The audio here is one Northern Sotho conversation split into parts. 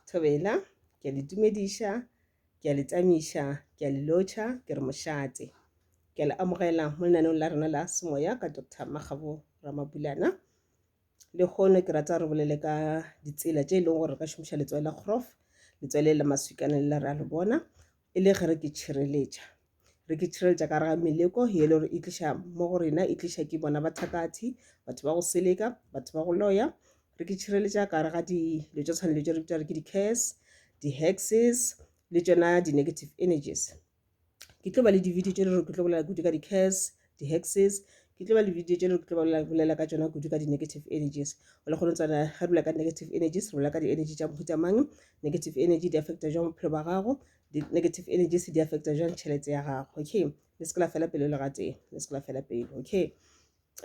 Thobela, ke a le tumediša, ke a le tsamiša, ke a le lotšha, ke re mošate. Ke a le amogela mo lenanong la rena la semoya ka Dr. Makgabo Ramabulana. Le kgono ke rata re bolele ka ditsela tše e leng gore re ka šomiša letswai la kgorof, letswai le la maswikana le la re a le bona, e le ge re ke tšhireletša. Re ke tšhireletša ka gare ga meleko ye e le gore e tliša mo go rena, e tliša ke bona bathakathi, batho ba go seleka, batho ba go loya. Re ke tšhireletša ka gare ga dilo tša tshwana le tše re bitša gore ke di-curse, di-hexes le tšona di-negative energies. Ke tlo ba le di-video tše e le gore ke tlo bolela kudu ka di-curse, di-hexes ke tlo ba le video tše le ke tlo ba bolela ka tšona kudu ka di-negative energies o le kgone tswana ge re ka negative energies re bolela ka di-energy tša mohuta mang negative energy di affecta jang bophelo ba gago di-negative energies di affecta jang tšhelete ya gago okay le se ke la fela pelo le gatee le se ke la fela pelo okay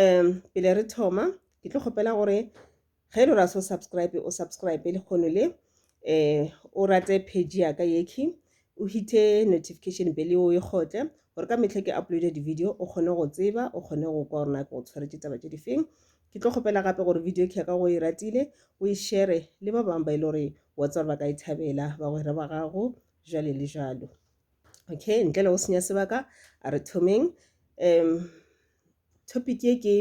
um pele re thoma ke tlo kgopela gore ge lo ra so subscribe o subscribe le kgono le eh o rate page ya ka yekhi o hithe notification bell o e kgotle gore ka metlha ke uploade di-video o kgone go tseba o kgone go kwa gore nako o tshwaretse taba tse di feng ke tlo kgopela gape gore video khe ka go e ratile o e shere le ba bangwe ba e le gore wa tsa gore ba ka e thabela bagwera ba gago jale le jalo okay ntle le go senya sebaka a re thomeng um topic ye ke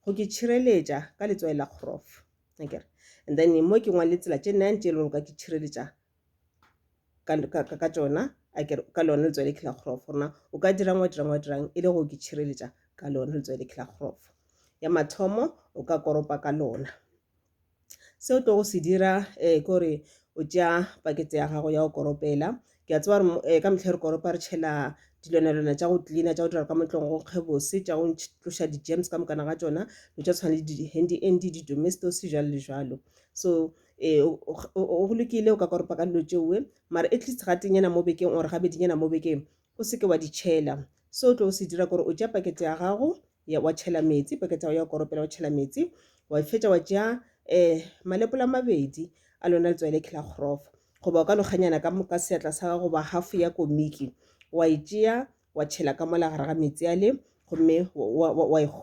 go ke tšhireletša ka letswai la kgorofo akere and then mo ke ngwale tsela tše nine tše e lego ka ke tšhireletša ka tšona akere ka lone letswai le khela kgorofo rona o ka dirang wa dirang wa dirang e le go ke tšhireletša ka lone letswai le khela kgorofo ya mathomo o ka koropa ka lona Se o tlogo se dira ke gore o tšea pakete ya gago ya go koropela, ke a tseba gore ka metlha re koropa re tšhela dilwanalwana tša go cleaner tša go dira ka mo tlong go nkge bose, tša go tloša di-germs ka mokana ga tšona, dilo tša tshwana le di-handy andy, di-domestos jwalo le jwalo. So go lokile o ka koropa ka dilo tšeoe mara at least ga teng nyana mo bekeng or gabedi nyana mo bekeng o seke wa di tšhela. Se o tlo se dira ke gore o tšea pakete ya gago ya wa tšhela metsi pakete ya go ya go koropela wa tšhela metsi wa fetša wa tšea um malepola a mabedi a lona letswai le khela kgorofa goba o ka lokganyana ka moka seatla sa gago goba half ya komiki wa e tšea wa tšhela ka mola gare ga metsi a le gomme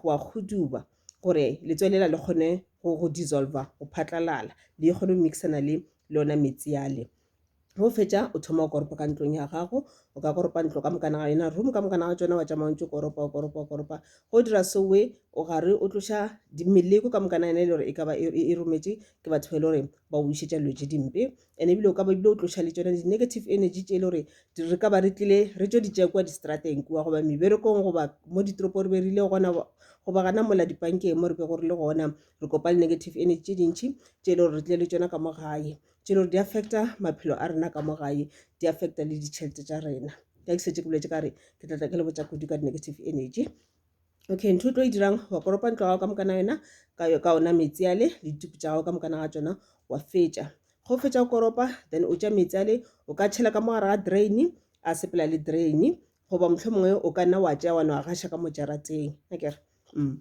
wa kgoduba gore letswai lela le kgone go dissolva go phatlalala le kgone go mixana le lona metsi a le go fetša o thoma o koropa ka ntlong ya gago o ka koropa ntlo ka mokana ga yona room ka mokana ga tsona wa tšama o ntse koropa o koropa o koropa go dira sewe o gare o tloša meleko ka mokana yona e le gore e ka ba e, e, e rometše ke batho ba e le gore ba o išetša dilo tše dimpe and ebile o ka ba ebile o tloša le tsona di-negative energy tše e le gore re ka ba re tlile re tšo di tšea kua distrateng kua goba meberekong goba mo ditoropo re be rile gona goba gana mola dipankeng mo re be go re le gona re kopa le negative energy tše dintšhi tše e le gore re tlile le tsona ka mo gae tše le gore di affecta maphelo a rena ka mo gae di affecta le ditšhelete tša rena ka ke setse ke boletse ka re ke tla tla ke le botsa kudu ka di-negative energy okay ntho o tlo e dirang wa koropa ntlo gago ka mokana yona ka ona metsi ale le dituku tša gago ka mokana ga tsona wa fetša go fetša go koropa then o tša metsi ale o ka tšhela ka mo gare ga drain a sepela le drain goba mohlho mongwe o ka nna wa tšea wa no a gaša ka mo jarateng akere mm.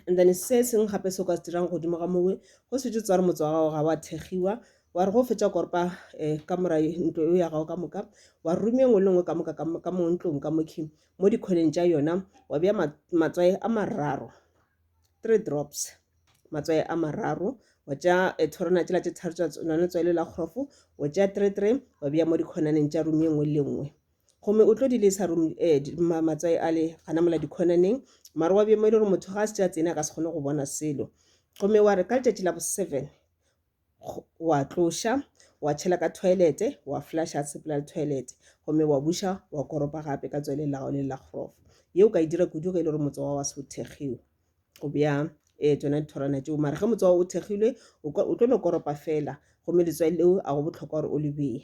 and then se sengwe gape se o ka se dirang godimo ga mowe go setse tswa re motse wa gago ga wa thegiwa wa re go fetsa korpa um eh, ka mora ntlo eo ya gago ka moka wa rume nngwe le nngwe ka moka ka mo ntlong ka mokhi mo dikgweleng tša yona wa bea matswae a mararo three drops matswae a mararo wa tša eh, thorona tsela tše tharo tša lone tswaele la kgorofo wa tša three three wa bea mo dikgonaneng tša rume nngwe le nngwe Gomme o tlo di lesa rum, eh, di, ma, matswai ale, gana mola dikhonaneng, mara wa bjemo e le gore motho ga a se a tsene a ka se kgone go bona selo. Gomme wa re, ka letšatši la bo-seven, wa tloša, wa tšhela ka thoelete, wa flasha sepela le thoelete, gomme wa buša, wa koropa gape ka tsweleng la gago le la grof. Yeo o ka e dira kudu ge e le gore motse wa wa se o thekgiwe. Go bea, eh, tšona dithorwana tšeo. Mara ge motse wa o thekgilwe, o ka, o tlo no koropa feela, gomme letswai leo a go bohlokwa gore o le bee.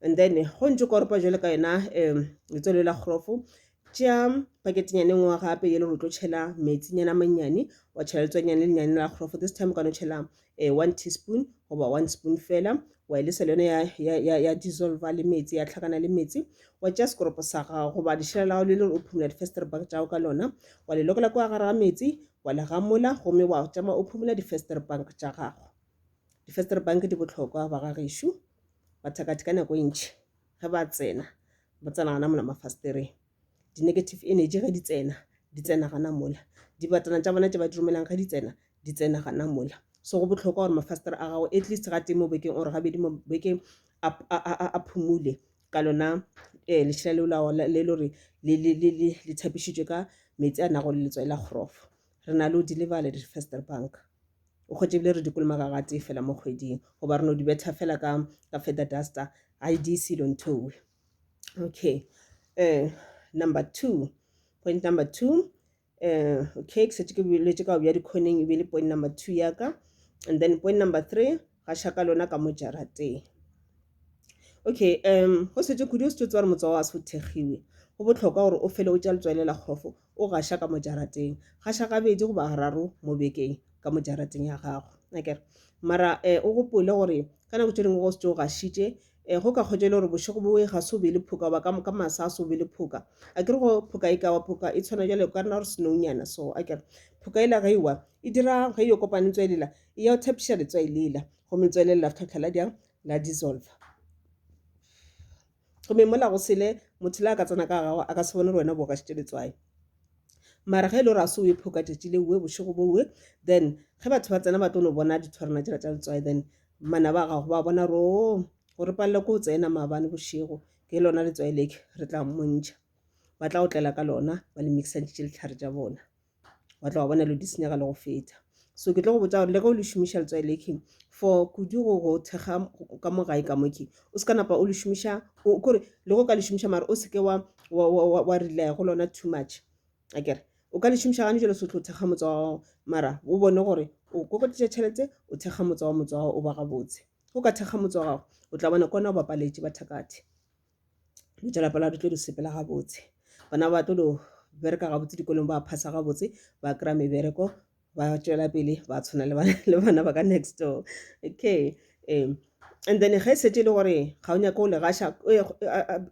and then go ntse koropa jwale ka yona um letswalo la kgorofo tšea paketenyane ngwe gape ye le go tlo tšhela metsinyana mannyane wa tšhela letswanyane le lenyane la kgorofo this time o ka no tšhela um eh, one teaspoon goba one spoon fela wa e lesa le yone ya, ya, ya, ya dissolva le metsi ya tlhakana le metsi wa tšea sekoropo sa gago goba lešela la gago le le gore o phumula di-fester bag tšago ka lona wa le lokela kwa gare ga metsi wa le gamola gomme wa tšama o phumula di-fester bank tša gago di-fester bank di botlhokwa ba ga gešo bathakathi ka nako e ntšhi ge ba tsena ba tsena gana mola mafastereng di-negative energy ge di tsena di tsena gana mola dibatana tša bona tše ba di romelang ge di tsena di tsena gana mola so go botlhokwa gore mafastere a gago at least ga teng mo bekeng ore gabedi mo bekeng a phumule ka lona um eh, lešela leo le le gore le thapišitšwe ka metsi a nago le letswai la kgorofo re na le o di lebale di fester bank o kgwetše ebile re di kolomaga ga tee fela mo kgweding goba re no di betha fela ka ka feather duster i di selo nthowe okay um number two point number two um okay ke setse ke boletse ka go bja dikgoneng e be le point number two ya ka and then point number three ga shaka lona ka mo jarateng okay um go setse kudu o setse tse gore motsoa wa se o thekgiwe go botlhokwa gore o fele o tša letswaele la kgofo O gaša ka mo jarateng. Gaša gabedi goba gararo mo bekeng ka mo jarateng ya gago. Akere? Mara um o gopole gore ka nako tše dingwe go se tše o gašitše um go ka kgotša e le gore bošego bo e ga se o be le phoka goba ka masa a se o be le phoka a kere go phoka e kawa phoka e tshwana jale ka rena gore senounyana so a kere phoka e la ge ewa e dira ge e yo kopane tswa elela e ya o thepiša letswa e lela gomme letswa e lela la tlhotlha la diang la dissolve gomme mola go sele motho le a ka tsena ka gago a ka se bone gore wena bo gašitše letswai mara ge e le gore a se o e phoka tšatši le uwe bošego bowe then ge batho ba tsena ba tlo no bona dithwarana tšela tša letswai then mana ba gago ba bona ro oh, go re palela ko o tsena maabane bošego ke lona letswai leke re tla mmontšha ba tla otlela ka lona ba le mixantšitše letlhare tša bona wa tla wa bona lo di senyega le go feta so ke tlo go botsa gore le ge o le šomiša letswai leke for kudu go go thekga ka mo gae ka moke o se ka napa o le šomiša kore le go ka le šomiša mare o seke wa wa relaya go lona too much a kere o ka le šomiša gane jalo sotlhe o thekga motsa wa gago mara o bone gore o kokotisa tšhelete o thekga motsa wa motsa wa gago o ba gabotse o ka thekga motsa wa gago o tla bona kona o bapaletše bathakathe dilo tša lapa la di tlo di sepela gabotse bana ba tlo bereka gabotse dikolong ba phasa gabotse ba kry-a mebereko ba tšwela pele ba tshwana le bana ba ka next door okay um and then ge e setse e le gore ga o nyake o legasha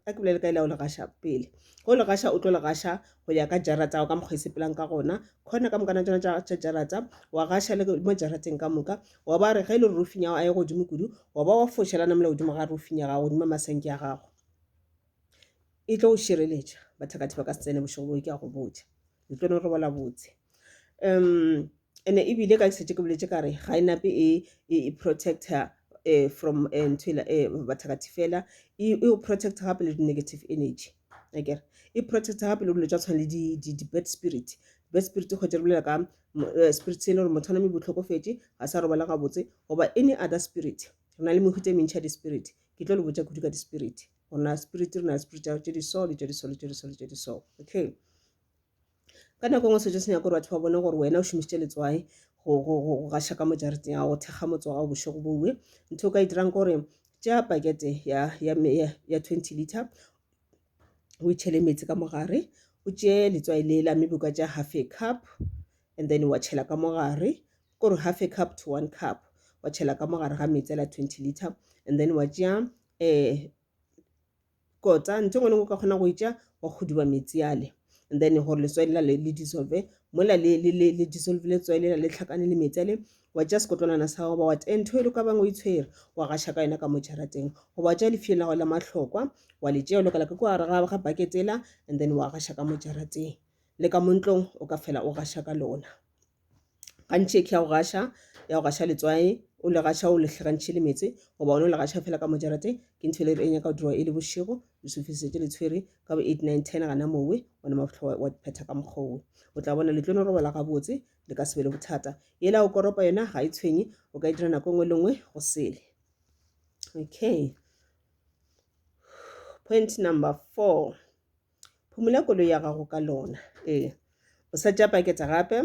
a ke bolele ka ela o legasha pele go le gasha o tlo le gasha go ya ka jarata ka mokgwa e sepelang ka gona khona ka mokana tsona tša jarata wa gasha le mo jarateng ka moka wa ba re ge e le rorofing ya gago a ye godimo kudu wa ba wa foša la namela godimo ga rorofing ya gago godimo masanke ya gago e tlo go šireletša bathakathi ba ka se tsene bošego boo ke a go botša le tlo no robola botse um ene ebile ka setse ke boletse ka re ga e nape e, e, e protector eh, from eh, ntho ela eh, bathakathi fela e e o protect gape le di-negative energy akere e protect gape le dilo tsa tshwana le di- di- di-bad spirit bad spirit go tse re bolela ka Eh, spirit se e le gore motho a name botlhokofetše ga sa robala gabotse goba any other spirit re na le mehuta e mentšha di-spirit ke tlo le botsa kudu ka di-spirit gore na spirit re na le spirit tše di so le tše di so le tše di so le tše di so okay ka nako ngwe sejo se nyaka gore batho ba bone gore wena o šomisitše letswae go gaša ka mo jareteng ya go thekga motse wa gago bošego boue ntho o ka e dirang ke gore tšea pakete ya twenty liter o e tšhele metsi ka mogare o tšee letswai lela mme boka tša half a cup and then wa tšhela ka mogare kore half a cup to one cup wa tšhela ka mogare ga metsi ala twenty liter and then wa tšea um eh, kota ntho ngwe le ngwe ka kgona go e tša wa kgoduba metsi ale and then gore letswai lela le dissolve mola le dissolve letswai lela le tlhakane le metsi ale wa tšea sekotlwanana sa gago ba wa tee ntho e le ka bang o itshwere wa gaša ka yona ka mo jarateng goba wa tšea lefio la gago la mahlokwa wa le tšea o lokela ka kwa gare ga baketela and then wa gaša ka mo jarateng le ka montlong o ka fela o gaša ka lona gantši ke ya go gaša ya go gaša letswae o le gaša o lehlagantšhe le metse goba one o le gaša fela ka mojarate ke ntho e le re e nyaka go dirwa e le bošego lesofisetše le tshwere ka bo eight nine ten gana mowe ona mabotlho wa phetha ka mokgowe o tla bona le tlo no robala gabotse le ka se be le bothata yela o koropa yona ga e tshwenye o ka e dira nako nngwe le nngwe go sele okay point number four phumola koloi ya gago ka lona ee o sa tša paketa gape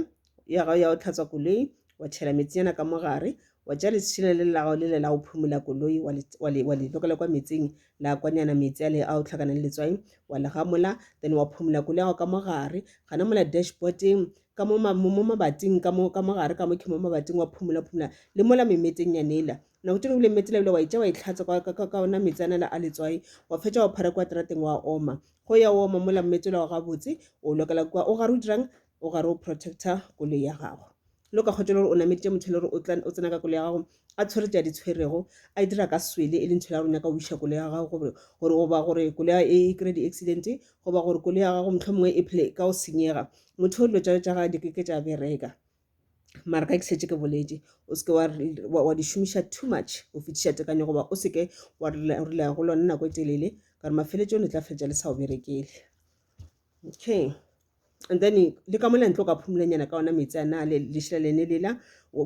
ya gago ya go tlhatswa koloi wa tšhela metsinyana ka mogare wa tša lesešina le lago le le la go phumola koloi wa le lokela kwa metsing la kwanyana meetse a le a o tlhakana le letswai wa le gamola then wa phumula koloi yago ka mo gare gana mola dashboardeng ka mo mabating ka mo gare ka mo ke mo mabating wa phumula phumula le mola memeteng ya nela nako tšone bile metse lebile wa itša wa itlhatsa ka ona metse anela a letswai wa fetša wa phara kwa terateng wa oma go ya oma mola mmetse la wa gabotse o lokela kwa o gare o dirang o gare o protector koloi ya gago le o ka kgwetša e le gore o nameditše motho e le gore o tla o tsena ka koloi ya gago a tshwere tše a di tshwerego a e dira ka swele e leng tšhela gore o nyaka go iša koloi ya gago gore gore goba gore koloi ya e kry-e di-accident goba gore koloi ya gago motlho mongwe e phele ka o senyega motho o dilo tša tša gae di keke tša bereka mara ka ke setse ke boletse o seke wa di šomiša too much go fetiša tekanyo goba o seke wa rela go lone nako e telele ka gore mafeletsong le tla feletša le sa o berekele okay and then le ka mona ntle o ka phumulanyana ka ona metsi a na le lešela lene lela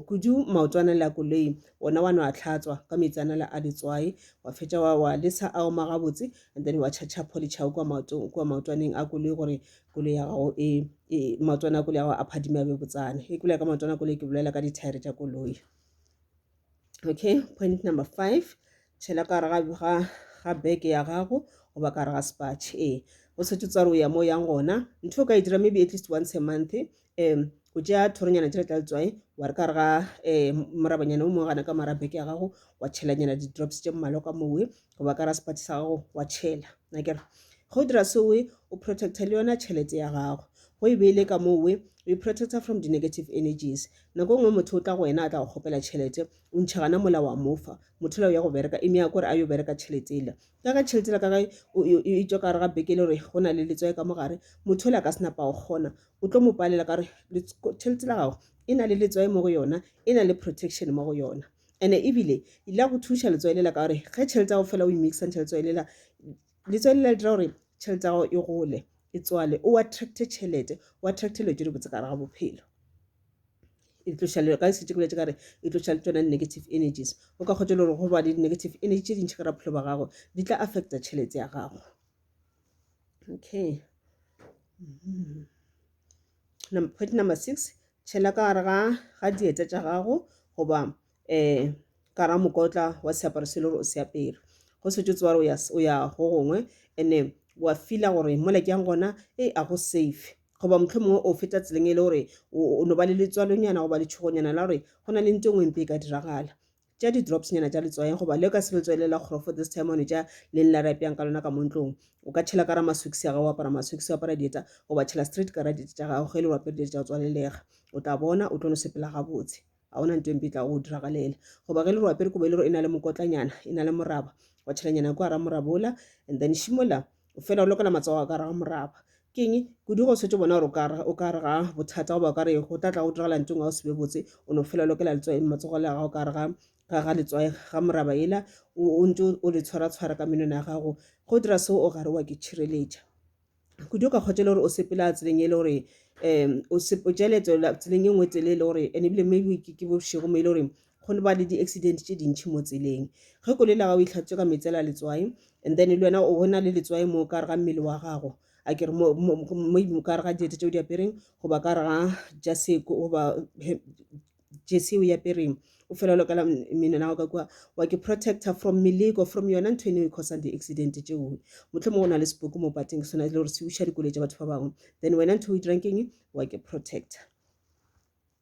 kudu maoto a na le a koloi ona wa no a tlhatswa ka metsi a na le a letswai wa fetša wa wa lesa a oma gabotse and then wa tšhatšha polichao kua maotong kua maotwaneng a koloi gore koloi ya gago e, e maotwana a koloi ya gago a phadime a be botsana e koloi ya ka maotwana a koloi ke bolela ka dithaere tša koloi okay point number five tšhela ka gare ga ga beke ya gago goba ka gare ga sepatšhe ee o setse tsware o ya mo yang gona ntho o ka e dira maybe at least once a month um o tšea thoronyana tšela tla letswai wa re ka re ga um morabanyana o mongwe gana ka mara beke ya gago wa tšhelanyana di-drops tše mmalwa ka mowe goba ka rasepati sa gago wa tšhela nakere go dira so we o protecta le yona tšhelete ya gago go e beile ka moo we o protecta from di-negative energies nako nngwe motho o tla go wena a tla go kgopela tšhelete o ntšha gana mola wa mofa motho la o ya go bereka e meya kore a yo bereka tšhelete ela ka ka tšhelete la ka gae e tswa ka re ga beke le gore go na le letswae ka mogare motho o la ka senapa go kgona o tlo mo palela ka gore tšhelete la gago e na le letswae mo go yona e na le protection mo go yona And-e ebile e ile ya go thuša letswai lela ka gore ge tšhelete ya go fela o e mix-a ntšha letswai lela, letswai lela le dira gore tšhelete ya gago e gole e tswale o attracte tšhelete, o attracte dilo tše di botse ka gare ga bophelo. E tloša le ka se tše ke boletše ka gore e tloša le tšona negative energies. O ka kgotša le gore go ba le di-negative energy tše dintšhi ka gare ga bophelo ba gago di tla affecta tšhelete ya gago. Okay, point number six, tšhela ka gare ga ga dieta tša gago goba um ka ra mokotla wa seaparo se le gore o se apere go setse tsewa gore o ya go gongwe ene wa fila gore mola ke yang gona e a go safe goba motlho mongwe o feta tseleng e le gore o no ba le letswalonyana goba letšhogonyana la gore go na le nto e nngwe mpe e ka diragala tša di drops nyana tša letswayeng goba le ka se letswayi le la kgorofo this time one tša leng la rapyang ka lona ka mo ntlong o ka tšhela ka ra masokisi a gago o apara masokisi o apara dieta goba tšhela straight ka ra dieta tša gago ge le wapere dieta tša go tswalelega o tla bona o tlo no sepela gabotse ga ona nto empe tla go diragalela goba ge le re wapere kobo e le gore e na le mokotlanyana e na le moraba wa tšhelanyana ko ara moraba ola and then šimola fela o lokela matsogo a ka re ga moraba ke eng kudu go setse bona gore o ka re ga bothata goba o ka re go tla tla go diragala ntong ga o sebe botse o no fela o lokela matsogo le gago ka re ga ga letswae ga moraba ela o ntse o le tshwara tshwara ka menwana ya gago go dira seo o gare wa ke tšhireletša kudu ka kgotsa le gore o sepela tseleng e le gore um o jale tseleng e nngwe tsele e le gore and ebile maybe ke bošego mo e le gore go ba le di-accident tše dintšhi mo tseleng ge koloi la gago e tlhatswe ka metsela letswai and then le wena o na le letswai mo ka re ga mmele wa gago a ke re maybe ka re ga diete tse o di apereng goba ka re ga jase goba jese o e apereng o fela lokela mmele nago ka kua wa ke protector from meleko from yona ntho eno e cosang di-accident tseo motlho mongwe o na le seboke mo pateng sona le gore se uša dikoloi tsa batho ba bangwe then wena ntho o e dirang keng wa ke protector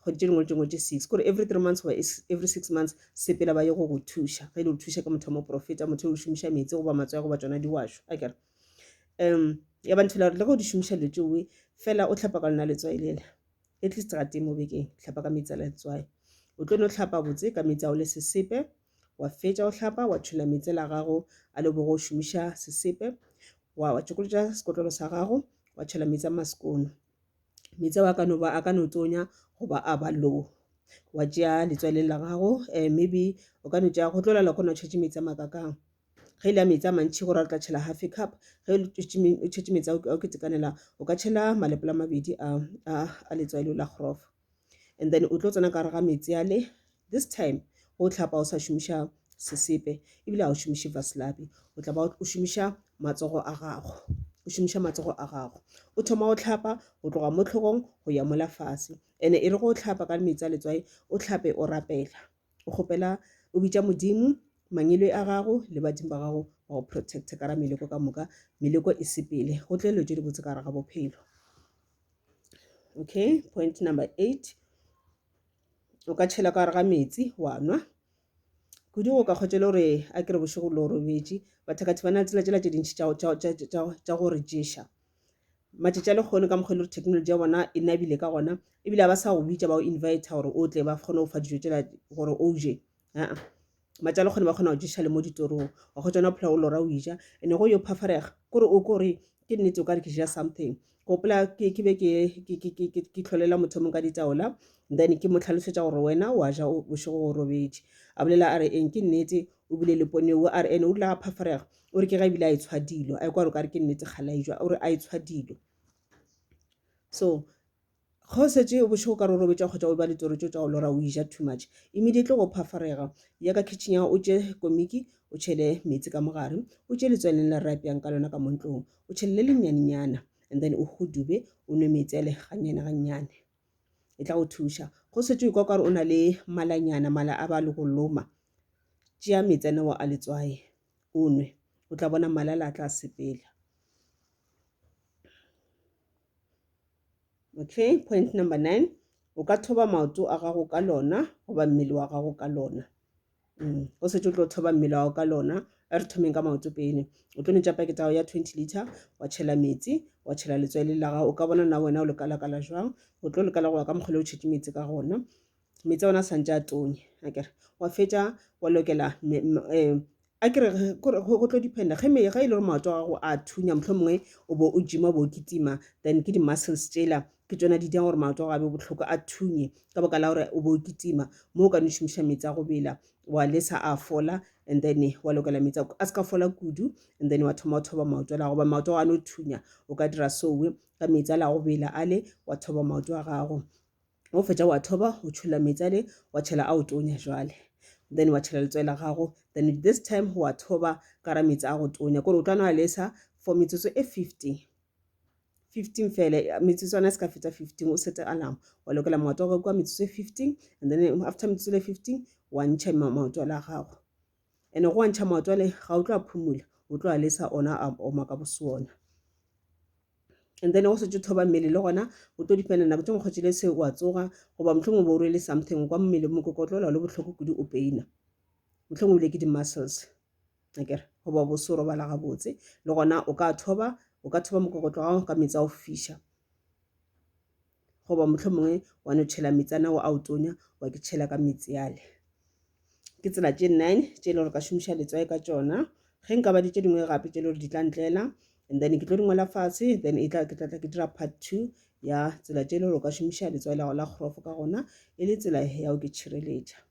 kgwedi tše dingwe le tše dingwe tše six kore every three months goba every six months sepela ba ye go go thuša ge e le go thuša ke motho wa moprofeta motho o šomiša metsi goba matsoya goba tsona diwašo a kere um ya ba nthela gore le ge o di šomiša dilo tšeoe fela o tlhapa ka lona letswai lela at least ga teng mo bekeng tlhapa ka metsi a la letswai o tlo no tlhapa botse ka metsi ao le sesepe wa fetša o tlhapa wa tšhola metsi la gago a le bogo o šomiša sesepe wa wa tšokolotša sekotlolo sa gago wa tšhola metsi a masekono meetse ao a ka no ba a ka no tonya goba a ba low wa tšea letswaleng la gago um maybe o ka no tšea go tlola le kgona o tšhetše meetse a makakang ge e le ya meetse a mantšhi gore a tla tšhela half a cup ge o tšhetše meetse a o ketekanela o ka tšhela malepolo a mabedi a letswalo la grof and then o tlo tsena ka gare ga metsi a le this time o tlhapa o sa šomiša sesepe ebile a o šomiše vaslabi o tla ba o šomiša matsogo a gago o šomiša matsogo a gago o thoma o tlhapa go tloga mo tlhogong go ya mola fase ene e re go tlhapa ka metsi a letswai o tlhape o rapela o kgopela o bitša modimo mangilwe a gago le badimo ba gago ba go protecte ka ra meleko ka moka meleko e sepele go tlelelo tse dibotse ka gare ga bophelo okay point number eight o ka tšhela ka gare ga metsi wa nwa kudu go ka kgotšele gore a kere bošego lo robetše bathakathi ba na le tsela tsela tše dintšhi tša go re ješa matšatši a lekgono ka mokgwa e le gore technology ya bona e nabile ka gona ebile ga ba sa go bitša ba go inviter gore o tle ba kgone go fa dijo tsela gore o je aa matšalo kgone ba kgona go ješa le mo ditorong wa go tsona phela o lora o ija ene go yo phafarega kore o kore ke nnete o ka re ke ja something gopola ke be ke tlholela motho mong ka ditaola then ke mo tlhalosetsa gore wena wa ja bošego o robetše a bolela a re eng ke nnete o bile le ponewo a re ene o dula a phafarega o re ke ga ebile a e tshwa dilo a e kwa re o ka re ke nnete kgalaejwa o re a e tshwa dilo so Ge o šetše o bošego ka rorobetša kgotša o eba litoro tšeo tša go lora o eja too much, immediately go phafarega, ya ka kitchen ya o tše komiki o tšhele meetse ka mogare, o tše letsweleng la re apeang ka lona ka mo ntlong, o tšhele le lennyane-nyana and then o hudube o nwe meetse ale gannyane-gannyane. E tla go thuša. Ge o šetše o ikwa o ka re o na le malanyana, mala a ba le go loma, tšea meetse a nao a letswai o nwe, o tla bona mala ala a tla sepela. okay point number nine o ka thoba maoto a gago ka lona goba mmele wa gago ka lona mm. o setse o tlo thoba mmele wa gago ka lona a re thomeng ka maoto pele o tlo netša pakete gago ya twenty liter wa tšhela metsi wa tšhela letswele la gago o ka bona na wena o lekalakala jwang o tlo lekala go ya ka mokgole o tšhetše metsi ka gona meetse a ona a santse a tonya akere wa fetša wa lokela um akere go tlo dependa ge e le gore maoto a gago a thunya mohlho mongwe o bo o gym-a o bo o kitima then ke di-muscles tsela ke tsona di dirang gore maoto a gago a be bohloko a thunye ka baka la gore o bo o kitima mo o ka no šomiša meetse a go bela wa lesa a fola and then wa lokela meetse a se ka fola kudu and then wa thoma o thoba maoto a la goba maoto a no thunya o ka dira sowe ka meetse a la go bela ale wa thoba maoto a gago o fetša wa thoba o tšhola metsi ale wa tšhela a o tonya jwale then wa tšhela letswai la gago then this time wa thoba ka ra metsi a go tonya kore o tla nwa lesa for metsotso e 15 15 fele metsotswana e se ka feta 15 o sete alarm wa lokela maoto a gago kwa metsotso e 15 and then after metsotso le 15 wa ntšha maoto la gago ene go wantšha mowa tswale ga o tlo a phumula o tlo a lesa ona a oma ka bosona and then go setse thoba mmele le gona o tlo dipena nako tse mokgotsi le se wa tsoga goba motlhong o bo o rwele something kwa mmele mo kokotlola le botlhoko kudu o peina motlhong o bile ke di-muscles akere goba bo se robala gabotse le gona o ka thoba o ka thoba mokokotlo gago ka metsi a go fiša goba motlho mongwe wa no tšhela metsi ana wa ao tonya wa ke tšhela ka metsi ale ke tsela tše nine tše e le gore ka šomiša letswae ka tšona ge nka ba di tše dingwe gape tše e le gore di tla ntlela and then ke tlo di ngola fatshe then e tla ke tla tla ke dira part two ya tsela tše e le gore o ka šomiša letswae la go la kgorofo ka gona e le tsela ya o ke tšhireletša